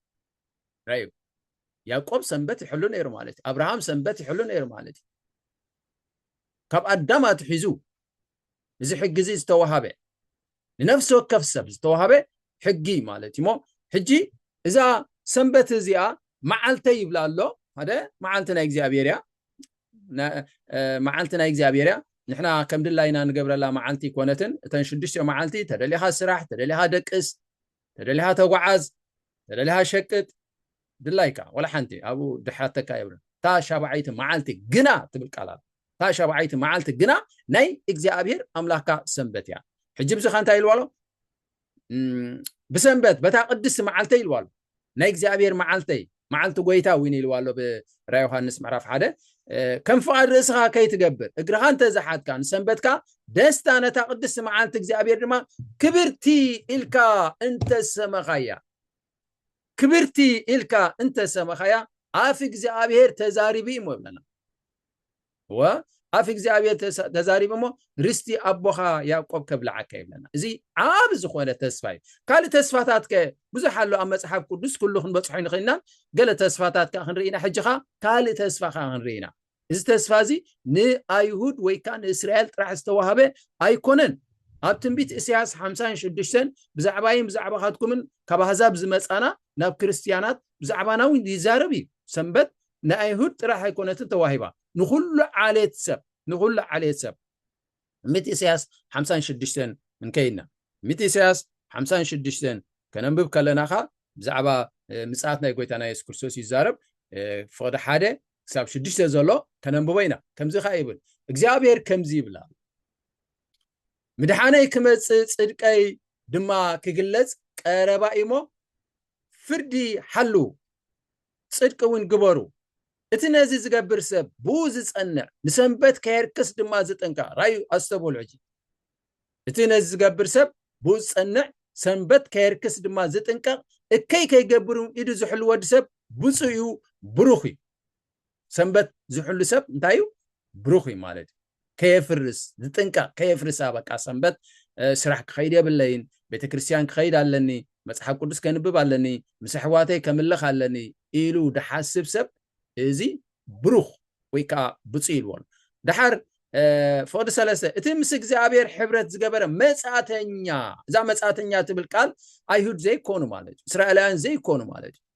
ራዩ ያቆብ ሰንበት ይሕሉ ነይሩ ማለት እዩ ኣብርሃም ሰንበት ይሕሉ ነይሩ ማለት እዩ ካብ ኣዳም ኣትሒዙ እዚ ሕጊ እዚ ዝተዋሃበ ንነፍሲ ወከፍ ሰብ ዝተዋሃበ ሕጊ ማለት እዩ ሞ ሕጂ እዛ ሰንበት እዚኣ መዓልተ ይብላ ኣሎ ሓደ መዓልቲ ናይ እግዚኣብሔር እያ መዓልቲ ናይ እግዚኣብሔር እያ ንሕና ከም ድላይና ንገብረላ መዓልቲ ኮነትን እተን ሽዱሽተ መዓልቲ ተደሊኻ ስራሕ ተደሊኻ ደቅስ ተደሊኻ ተጓዓዝ ተደሊኻ ሸቅጥ ድላይካ ወላ ሓንቲ ኣብኡ ድሓተካ የብለን እታ ሻብዓይቲ መዓልቲ ግና ትብል ቃል ኣላ እታ ሻብዓይቲ መዓልቲ ግና ናይ እግዚኣብሄር ኣምላኽካ ሰንበት እያ ሕጂ ብዙኻ እንታይ ኢልዋ ኣሎ ብሰንበት በታ ቅድስቲ መዓልተይ ኢልዋ ኣሎ ናይ እግዚኣብሄር መዓልተይ መዓልቲ ጐይታ እውን ኢልዋ ኣሎ ብ ራእይ ዮሃንስ ምዕራፍ ሓደ ከም ፍቓድ ርእስኻ ከይትገብር እግርኻ እንተ ዝሓትካ ንሰንበትካ ደስታ ነታ ቅድስቲ መዓልቲ እግዚኣብሔር ድማ ክብርቲ ኢልካ እንተ ሰመኻያ ክብርቲ ኢልካ እንተ ሰመኻያ ኣፍ እግዚኣብሔር ተዛሪቡ እዩ እሞ ይብለና እወ፣ ኣፍ እግዚኣብሔር ተሳ ተዛሪቡ እሞ ርስቲ ኣቦኻ ያእቆብ ከብልዓካ እዩ ብለና። እዚ ዓቢ ዝኾነ ተስፋ እዩ። ካልእ ተስፋታት ከ ብዙሕ ኣሎ ኣብ መጽሓፍ ቅዱስ ኩሉ ክንበጽሖ ኣይንኽእልናን። ገለ ተስፋታት ከኣ ክንርኢ ኢና። ሕጂ ከኣ ካልእ ተስፋ ከኣ ክንርኢ ኢና። እዚ ተስፋ እዚ ንኣይሁድ ወይ ከኣ ንእስራኤል ጥራሕ ዝተዋህበ ኣይኮነን። ኣብ ትንቢት እሰያስ ሓምሳን ሽዱሽተን ብዛዕባይን ብዛዕባኻትኩምን ካብ ኣህዛብ ዝመጻና ናብ ክርስትያናት ብዛዕባና እውን ይዛረብ እዩ። ሰንበት ንኣይሁድ ጥራሕ ኣይኮነትን ተዋሂባ፣ ንኹሉ ዓሌት ሰብ፣ ንኹሉ ዓሌት ሰብ። ትንቢት ኢሳይያስ ሓምሳን ሽዱሽተን እንከይድና፣ ትንቢት ኢሳይያስ ሓምሳን ሽዱሽተን ከነንብብ ከለና ከኣ ብዛዕባ ምጽኣት ናይ ጎይታና የሱስ ክርስቶስ እዩ ዝዛረብ፣ ፍቕዲ ሓደ ክሳብ ሽዱሽተ ዘሎ ከነንብቦ ኢና፣ ከምዚ ከኣ ይብል፣ እግዚኣብሄር ከምዚ ይብል ኣሎ፣ ምድሓነይ ክመጽእ ጽድቀይ ድማ ክግለጽ ቀረባ እዩሞ፣ ፍርዲ ሓልዉ፣ ጽድቂ እውን ግበሩ። እቲ ነዚ ዝገብር ሰብ ብኡ ዝጸንዕ ንሰንበት ከየርክስ ድማ ዝጥንቀቕ ራዩ ኣስተብህሉ ሕጂ እቲ ነዚ ዝገብር ሰብ ብኡ ዝጸንዕ ሰንበት ከየርክስ ድማ ዝጥንቀቕ እከይ ከይገብር ኢዱ ዝሕሉ ወዲ ሰብ ብፁዕ እዩ ብሩኽ እዩ ሰንበት ዝሕሉ ሰብ እንታይ እዩ ብሩኽ እዩ ማለት እዩ ከየፍርስ ዝጥንቀቅ ከየፍርሳ በቃ ሰንበት ስራሕ ክኸይድ የብለይን ቤተክርስትያን ክኸይድ ኣለኒ መጽሓፍ ቅዱስ ከንብብ ኣለኒ ምስ ኣሕዋተይ ከምልኽ ኣለኒ ኢሉ ድሓስብ ሰብ እዚ ብሩኽ ወይ ከዓ ብፁዕ ኢልዎ ኣሎ ድሓር ፍቅዲ ሰለስተ እቲ ምስ እግዚኣብሔር ሕብረት ዝገበረ መጻተኛ እዛ መጻተኛ ትብል ቃል ኣይሁድ ዘይኮኑ ማለት እዩ እስራኤላውያን ዘይኮኑ ማለት እዩ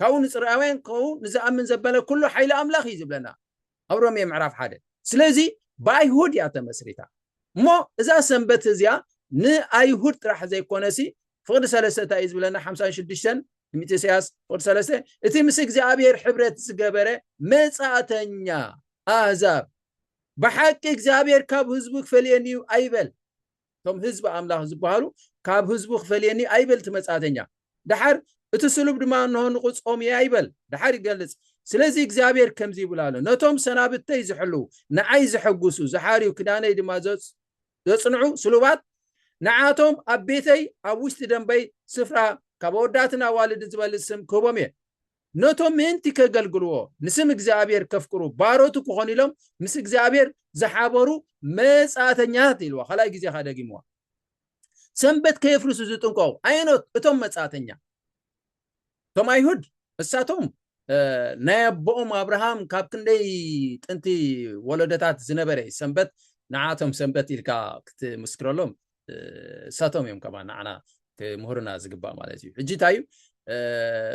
ካብኡ ንጽርኣውያን ክኸውን ንዝኣምን ዘበለ ኩሉ ሓይሊ ኣምላኽ እዩ ዝብለና ኣብ ሮሜ ምዕራፍ ሓደ ስለዚ ብኣይሁድ እያ ተመስሪታ እሞ እዛ ሰንበት እዚኣ ንኣይሁድ ጥራሕ ዘይኮነሲ ፍቕዲ ሰለስተ እንታይ እዩ ዝብለና ሓምሳን ሽዱሽተን ትንቢት ኢሳያስ ፍቕዲ ሰለስተ እቲ ምስ እግዚኣብሔር ሕብረት ዝገበረ መጻእተኛ ኣህዛብ ብሓቂ እግዚኣብሔር ካብ ህዝቡ ክፈልየኒ እዩ ኣይበል እቶም ህዝቢ ኣምላኽ ዝበሃሉ ካብ ህዝቡ ክፈልየኒ ኣይበል እቲ መጻእተኛ ደሓር እቲ ስሉብ ድማ እንሆ ንቕጾም እየ ኣይበል ደሓር ይገልጽ ስለዚ እግዚኣብሔር ከምዚ ይብል ኣሎ ነቶም ሰናብተይ ዝሕልው ንዓይ ዘሐጉሱ ዝሓርዩ ክዳነይ ድማ ዘጽንዑ ስሉባት ንዓቶም ኣብ ቤተይ ኣብ ውሽጢ ደንበይ ስፍራ ካብ ኣወዳትን ኣዋልድን ዝበልጽ ስም ክህቦም እየ ነቶም ምእንቲ ኬገልግልዎ፣ ንስም እግዚኣብሄር ኬፍቅሩ፣ ባሮቱ ኪዀኑ ኢሎም ምስ እግዚኣብሄር ዝሓበሩ መጻእተኛታት ኢልዋ፣ ኻልኣይ ግዜ ኸኣ ደጊምዋ። ሰንበት ከየፍርሱ ዝጥንቀቑ ኣየኖት እቶም መጻእተኛ? እቶም ኣይሁድ፣ እሳቶም ናይ ኣቦኦም ኣብርሃም ካብ ክንደይ ጥንቲ ወለዶታት ዝነበረ እዩ፣ ሰንበት ንዓኣቶም ሰንበት ኢልካ ክትምስክረሎም እሳቶም እዮም ከማ ንዓና ክምህሩና ዝግባእ ማለት እዩ ሕጂ እንታይ እዩ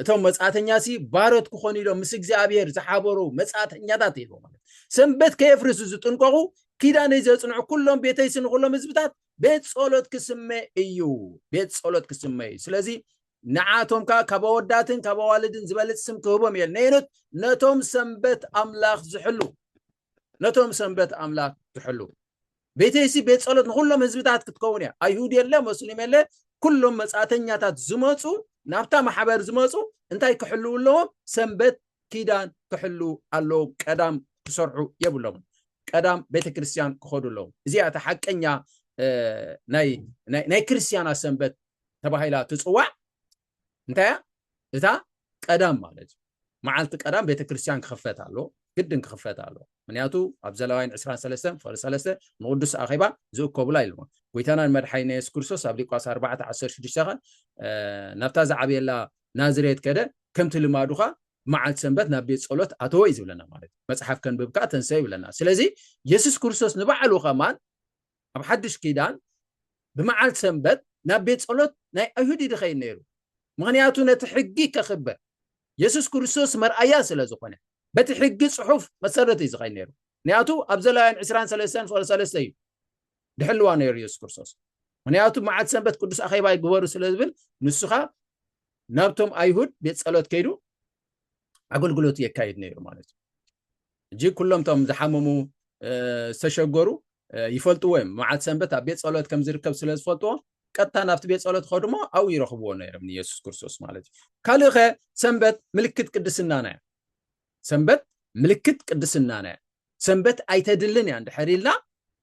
እቶም መጻእተኛ ሲ ባሮት ክኾኑ ኢሎም ምስ እግዚኣብሔር ዝሓበሩ መጻእተኛታት ኢሉ ማለት ሰንበት ከየፍርሱ ዝጥንቀቑ ኪዳነይ ዘጽንዑ ኩሎም ቤተይ ሲ ንኩሎም ህዝብታት ቤት ጸሎት ክስመ እዩ ቤት ጸሎት ክስመ እዩ ስለዚ ንዓቶም ከዓ ካብ ኣወዳትን ካብ ኣዋልድን ዝበልፅ ስም ክህቦም እየ ነይኑት ነቶም ሰንበት ኣምላኽ ዝሕሉ ነቶም ሰንበት ኣምላክ ዝሕልው ቤተይሲ ቤት ጸሎት ንኩሎም ህዝብታት ክትከውን እያ ኣይሁድ የለ መስሊም የለ ኩሎም መጻእተኛታት ዝመፁ ናብታ ማሕበር ዝመፁ እንታይ ክሕልው ኣለዎም ሰንበት ኪዳን ክሕልው ኣለዎም ቀዳም ክሰርሑ የብሎም ቀዳም ቤተክርስትያን ክኸዱ ኣለዎም እዚኣ እቲ ሓቀኛ ናይ ክርስትያና ሰንበት ተባሂላ ትፅዋዕ እንታይ እያ እታ ቀዳም ማለት እዩ መዓልቲ ቀዳም ቤተክርስትያን ክኽፈት ኣሎ ግድን ክኽፈት ኣሎ ምክንያቱ ኣብ ዘለዋይን 23 ፍቅሪ 3 ንቅዱስ ኣኼባ ዝእከቡላ ኢልዎ ጎይታናን መድሓይና የሱስ ክርስቶስ ኣብ ሊቋስ 4 16 ከ ናብታ ዝዓብየላ ናዝሬት ከደ ከምቲ ልማዱ ኸ መዓልቲ ሰንበት ናብ ቤት ጸሎት ኣተወ እዩ ዝብለና ማለት እዩ መፅሓፍ ከንብብ ከዓ ተንሰ ይብለና ስለዚ የሱስ ክርስቶስ ንባዕሉ ከማን ኣብ ሓዱሽ ኪዳን ብመዓልቲ ሰንበት ናብ ቤት ጸሎት ናይ ኣይሁድ ይድኸይድ ነይሩ ምኽንያቱ ነቲ ሕጊ ከኽብር የሱስ ክርስቶስ መርኣያ ስለ ዝኾነ በቲ ሕጊ ጽሑፍ መሰረት እዩ ዝኸይድ ነይሩ ምክንያቱ ኣብ ዘላውያን ዕስራን ሰለስተን ፍቕሪ ሰለስተ እዩ ድሕልዋ ነይሩ የሱስ ክርስቶስ ምክንያቱ መዓልቲ ሰንበት ቅዱስ ኣኼባ ይግበሩ ስለ ዝብል ንሱኻ ናብቶም ኣይሁድ ቤት ጸሎት ከይዱ ኣገልግሎት የካይድ ነይሩ ማለት እዩ እጂ ኩሎም ቶም ዝሓመሙ ዝተሸገሩ ይፈልጥዎ እዮም መዓት ሰንበት ኣብ ቤት ፀሎት ከም ዝርከብ ስለ ዝፈልጥዎ ቀጥታ ናብቲ ቤት ፀሎት ከድሞ ኣብኡ ይረኽብዎ ነይሮም ንየሱስ ክርስቶስ ማለት እዩ ካልእ ኸ ሰንበት ምልክት ቅድስናና እያ ሰንበት ምልክት ቅድስናና እያ ሰንበት ኣይተድልን እያ እንድሕር ኢልና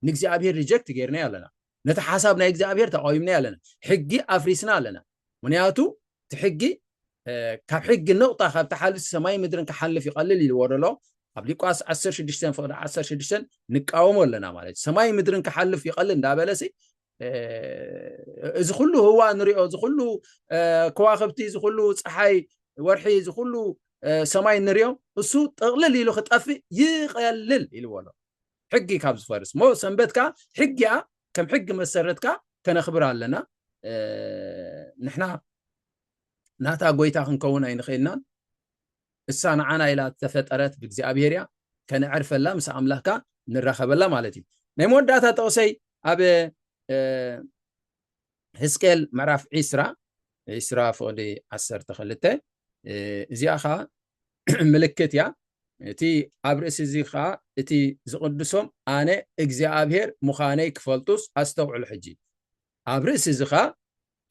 ንእግዚኣብሄር ሪጀክት ገይርናዮ ኣለና ነቲ ሓሳብ ናይ እግዚኣብሄር ተቃዊምናዮ ኣለና ሕጊ ኣፍሪስና ኣለና ምክንያቱ እቲ ሕጊ ካብ ሕጊ ንቕጣ ካብ ተሓልፍ ሰማይ ምድርን ክሓልፍ ይቐልል ኢልዎ ደሎ ኣብ ሊቋስ 16 ፍቕዲ 16 ንቃወሞ ኣለና ማለት እዩ ሰማይ ምድርን ክሓልፍ ይቐልል እንዳበለሲ እዚ ኩሉ ህዋ ንሪኦ እዚ ኩሉ ከዋክብቲ እዚ ኩሉ ፀሓይ ወርሒ እዚ ኩሉ ሰማይ ንሪኦ እሱ ጠቕልል ኢሉ ክጠፍእ ይቐልል ኢልዎ ኣሎ ሕጊ ካብ ዝፈርስ እሞ ሰንበት ከዓ ሕጊያ ከም ሕጊ መሰረት ከዓ ከነኽብር ኣለና ንሕና ናታ ጎይታ ክንከውን ኣይንኽእልናን እሳ ንዓና ኢላ እተፈጠረት ብእግዚኣብሄር እያ ከነዕርፈላ ምስ ኣምላኽካ ንራኸበላ ማለት እዩ ናይ መወዳእታ ጠቕሰይ ኣብ ህዝቅኤል ምዕራፍ ዒስራ ዒስራ ፍቕዲ ዓሰርተ ክልተ እዚኣ ከዓ ምልክት እያ እቲ ኣብ ርእሲ እዚ ከዓ እቲ ዝቕድሶም ኣነ እግዚኣብሄር ምዃነይ ክፈልጡስ ኣስተውዕሉ ሕጂ ኣብ ርእሲ እዚ ከዓ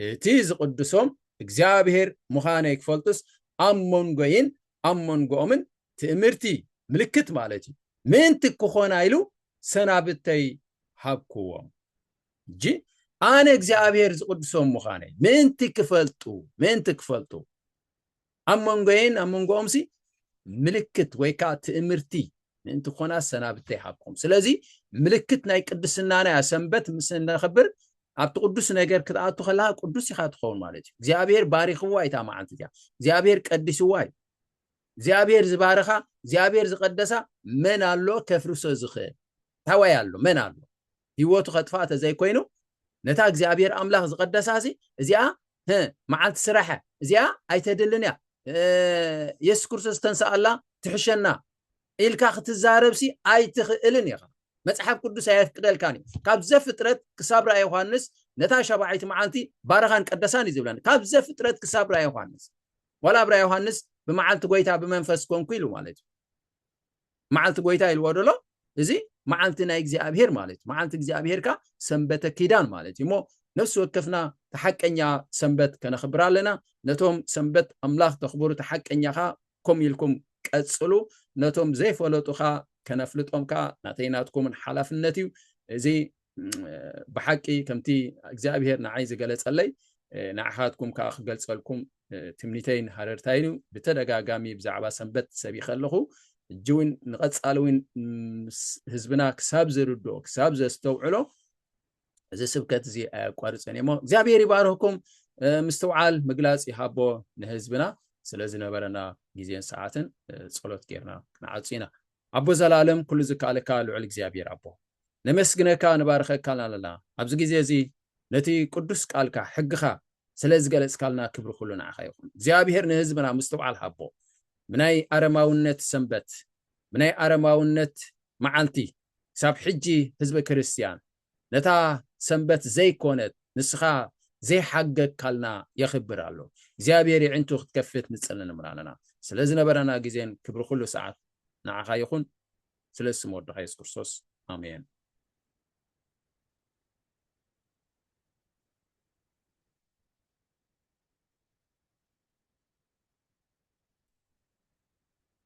እቲ ዝቕድሶም እግዚኣብሔር ምዃነይ ክፈልጡስ ኣብ መንጎይን ኣብ መንጎኦምን ትእምርቲ፣ ምልክት ማለት እዩ፣ ምእንቲ ክኾና ኢሉ ሰናብተይ ሃብክዎም። እጂ ኣነ እግዚኣብሔር ዝቕድሶም ምዃነይ ምእንቲ ክፈልጡ፣ ምእንቲ ክፈልጡ። ኣብ መንጎየይን ኣብ መንጎኦምሲ ምልክት ወይ ከዓ ትእምርቲ ምእንቲ ኮና ሰናብተ ይሃብኩም። ስለዚ ምልክት ናይ ቅድስናና እያ። ሰንበት ምስ እነኽብር ኣብቲ ቅዱስ ነገር ክትኣቱ ከለካ ቅዱስ ኢኻ ትኸውን ማለት እዩ። እግዚኣብሔር ባሪኽዋ እታ መዓልቲ እቲያ። እግዚኣብሔር ቀዲስዋ እዩ። እግዚኣብሔር ዝባረኻ እግዚኣብሔር ዝቀደሳ መን ኣሎ ከፍርሶ ዝኽእል? ታዋይ ኣሎ መን ኣሎ? ህይወቱ ከጥፍኣ ተዘይኮይኑ ነታ እግዚኣብሔር ኣምላኽ ዝቐደሳሲ እዚኣ መዓልቲ ስራሐ እዚኣ ኣይተድልን እያ የሱስ ክርስቶስ ተንስኣላ ትሕሸና ኢልካ ክትዛረብሲ ኣይትኽእልን ኢኻ መጽሓፍ ቅዱስ ኣየፍቅደልካን እዩ ካብ ዘፍጥረት ክሳብ ራእይ ዮሃንስ ነታ ሸባዓይቲ መዓልቲ ባረኻን ቀደሳን እዩ ዝብለን ካብ ዘፍጥረት ክሳብ ራእይ ዮሃንስ ዋላ ኣብ ራእይ ዮሃንስ ብመዓልቲ ጎይታ ብመንፈስ ኮንኩ ኢሉ ማለት እዩ መዓልቲ ጎይታ ኢልዎ ደሎ እዚ መዓልቲ ናይ እግዚኣብሄር ማለት እዩ መዓልቲ እግዚኣብሄርካ ሰንበተ ኪዳን ማለት እዩ እሞ ነፍሲ ወከፍና ተሓቀኛ ሰንበት ከነኽብር ኣለና ነቶም ሰንበት ኣምላኽ ተኽብሩ ተሓቀኛ ኸ ከምኡ ኢልኩም ቀጽሉ ነቶም ዘይፈለጡ ኸ ከነፍልጦም ከ ናተይ ናትኩምን ሓላፍነት እዩ እዚ ብሓቂ ከምቲ እግዚኣብሄር ንዓይ ዝገለጸለይ ንዓኻትኩም ከዓ ክገልጸልኩም ትምኒተይን ሃረርታይን እዩ ብተደጋጋሚ ብዛዕባ ሰንበት ሰቢኸ ኣለኹ ሕጂ እውን ንቐፃሊ እውን ህዝብና ክሳብ ዝርድኦ ክሳብ ዘስተውዕሎ እዚ ስብከት እዚ ኣየቋርፅን እዩሞ እግዚኣብሔር ይባርህኩም ምስትውዓል ምግላፅ ይሃቦ ንህዝብና ስለ ዝነበረና ግዜን ሰዓትን ፀሎት ጌርና ክንዓፁ ኢና ኣቦ ዘላለም ኩሉ ዝከኣለካ ልዑል እግዚኣብሔር ኣቦ ነመስግነካ ንባርኸካን ኣለና ኣብዚ ግዜ እዚ ነቲ ቅዱስ ቃልካ ሕግኻ ስለ ዝገለጽካልና ክብሪ ኩሉ ንዓኻ ይኹን እግዚኣብሔር ንህዝብና ምስትውዓል ሃቦ ምናይ ኣረማውነት ሰንበት ምናይ ኣረማውነት መዓልቲ ክሳብ ሕጂ ህዝበ ክርስትያን ነታ ሰንበት ዘይኮነት ንስኻ ዘይሓገግካልና የኽብር ኣሎ እግዚኣብሔር ይዕንቱ ክትከፍት ንጽልን እምራንና ስለ ዝነበረና ግዜን ክብሪ ኩሉ ሰዓት ንዓኻ ይኹን ስለ ስም ወድኻ የሱስ ክርስቶስ ኣሜን